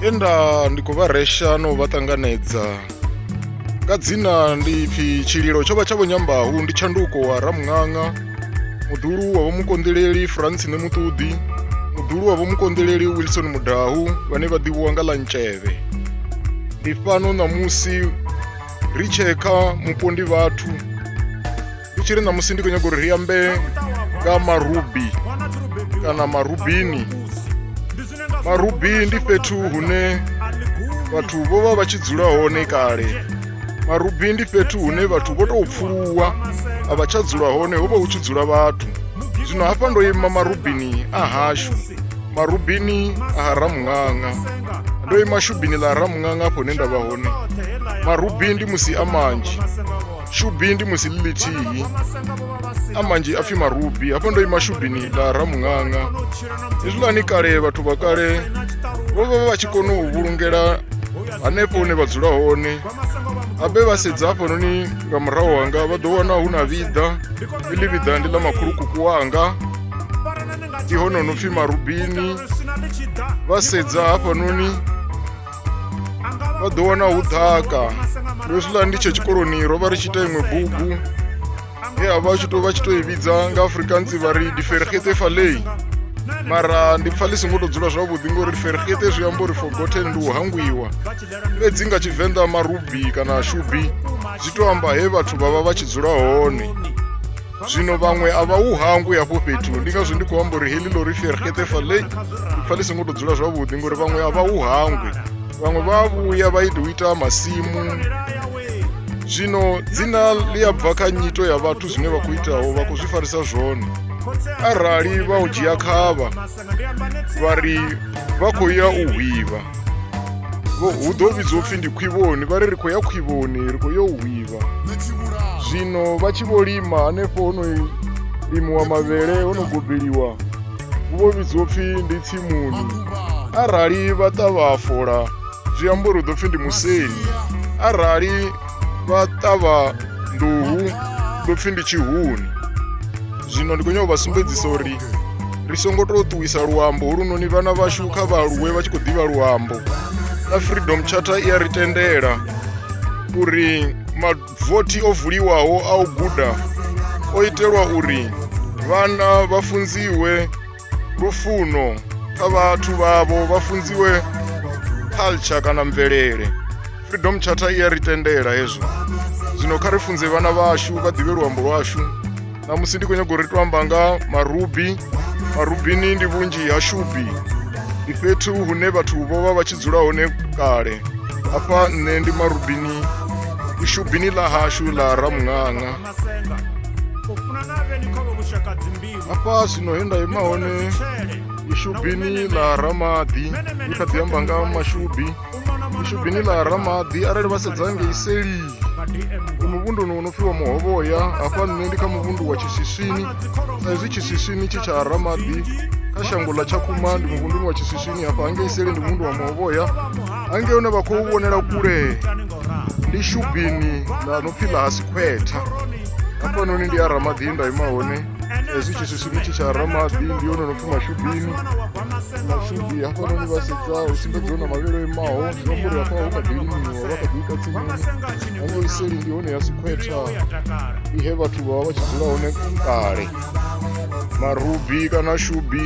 enda ndi khou vha resha no vha ṱanganedza nga dzina ndi pfi tshililo tsho vha tsha vho nyambahu ndi tshanduko wa ramuṅaṅa muḓulu wa vho mukonḓeleli france ne muṱuḓi muḓulu wa vho mukonḓeleli wilson mudahu vhane vha ḓivhiwa nga ḽa ntshevhe ndi fhano ṋamusi ri tshee kha mupondi vhathu ri tshi ri na musi ndi khou nyaga uri ri ambe nga marubi kana marubini marubi ndi fhethu hune vhathu vho vha vha tshi dzula hone kale marubi ndi fhethu hune vhathu vho tou pfuluwa a vha tsha dzula hone ho vha hu tshi dzula vhathu zwino hafha ndo ima marubini a hashu marubini a ha ramuṅaṅa ndo ima shubini ḽa ramuṅanga afho hune nda vha hone marubi ndi musi a manzhi shubi ndi musi ḽi ḽithihi a manzhi a pfhi marubi hafho ndo ima shubini ḽa ramuṅanga hezwiḽani kale vhathu vha kale vho vha vha tshi kona u vhulungela hanefho hune vha dzula hone abe vha sedza hafhanoni nga murahu hanga vha ḓo wana hu na vhiḓa iḽi vhiḓa ndi ḽa makhulukuku wanga ndi hone no pfhi marubini vha sedza hafhanoni vha ḓo wana hu ḓaka ndi hezwiḽa ndi tshe tshikoloni ro vha ri tshi ita iṅwe bugu he a vha tshi to vha tshi to i vhidza nga afrikaans vha ri difergete falei mara ndi pfa ḽi songo to dzula zwavhuḓi ngori difergete zwi amba uri forgotten ndi u hangwiwa fhedzi nga tshivenḓa marubi kana shubi zwi to amba he vhathu vha vha vha tshi dzula hone zwino vhaṅwe a vha u hangwi hafho fhethu ndi ngazwo ndi khou amba uri heḽi lori fergete fale fa ḽi songo tou dzula zwavhuḓi ngori vhaṅwe a vha u hangwi vhaṅwe vha a vhuya vha ita u ita masimu zwino dzina ḽi a bva kha nyito ya vhathu zwine vha khou itaho vha khou zwi farisa zwone arali vha u dzhia khavha vha ri vha khou ya u hwivha hu ḓo vhidzwa upfhi ndi khwivhoni vha ri ri khou ya khwivhoni ri khou ya u hwivha zwino vha tshi vho lima hanefho ho no limiwa mavhele ho no gobeliwa hu vho vhidzwa upfhi ndi tsimuni arali vha ṱavha fola zwi amba uri hu ḓo pfhi ndi museni arali vha ṱavha nḓuhu ndo pfhi ndi tshihuni zwino ndi khou nyanga u vha sumbedzisa uri ri songo tou ṱuwisa luambo holunoni vhana vhashu kha vhaaluwe vha tshi khou ḓivha luambo na freedom charter i a ri tendela uri mavothi o vuliwaho a u guda o itelwa uri vhana vha funziwe lufuno kha vhathu vhavho vha funziwe culture kana mvelele freedom charter i ya ri tendela hezwo zwino kha ri funze vhana vhashu vha ḓivhe luambo lwashu na musi ndi khou nyaga uri to amba nga marubi marubini ndi vhunzhi ha shubi ndi fhethu hune vhathu vho vha vha tshi dzula hone kale hafha nṋe ndi marubini ishubini ḽa hashu ḽa ramuṅaṅa masenga u funa na vheni kha vho vhushaka dzimbilu hafha zwino he nda ima hone ishubini ḽa ramaḓi ndi kha ḓi amba nga mashubi ishubini ḽa ramaḓi arali vha sedza ngei seli ndi muvhunduni wo no pfhiwa muhovhoya hafha nṋe ndi kha muvhundu wa tshiswiswini sa izwi tshiswiswini tshi tsha ramaḓi kha shango ḽa tshakhuma ndi muvhunduni wa tshiswiswini hafha hangei seli ndi muvhundu wa muhovhoya hangei hune vha khou vhonela kule ndi shubini ḽa no pfi ḽa ha sikhwetha hafhanoni ndi a ramaḓi nda ima hone hezwi tshiswisini tshi tsha ramaḓi ndi yone no pfi mashubini mashubi hafhanoni vha sedza u sumbedziwa na mavhelo imaho zwi amba uri hafha ho kha ḓi limiwa vha kha ḓi ita tsimuni hango iseli ndi hone ya sikhwetha ndi he vhathu vha vha vha tshi dzula hone kale marubi kana shubi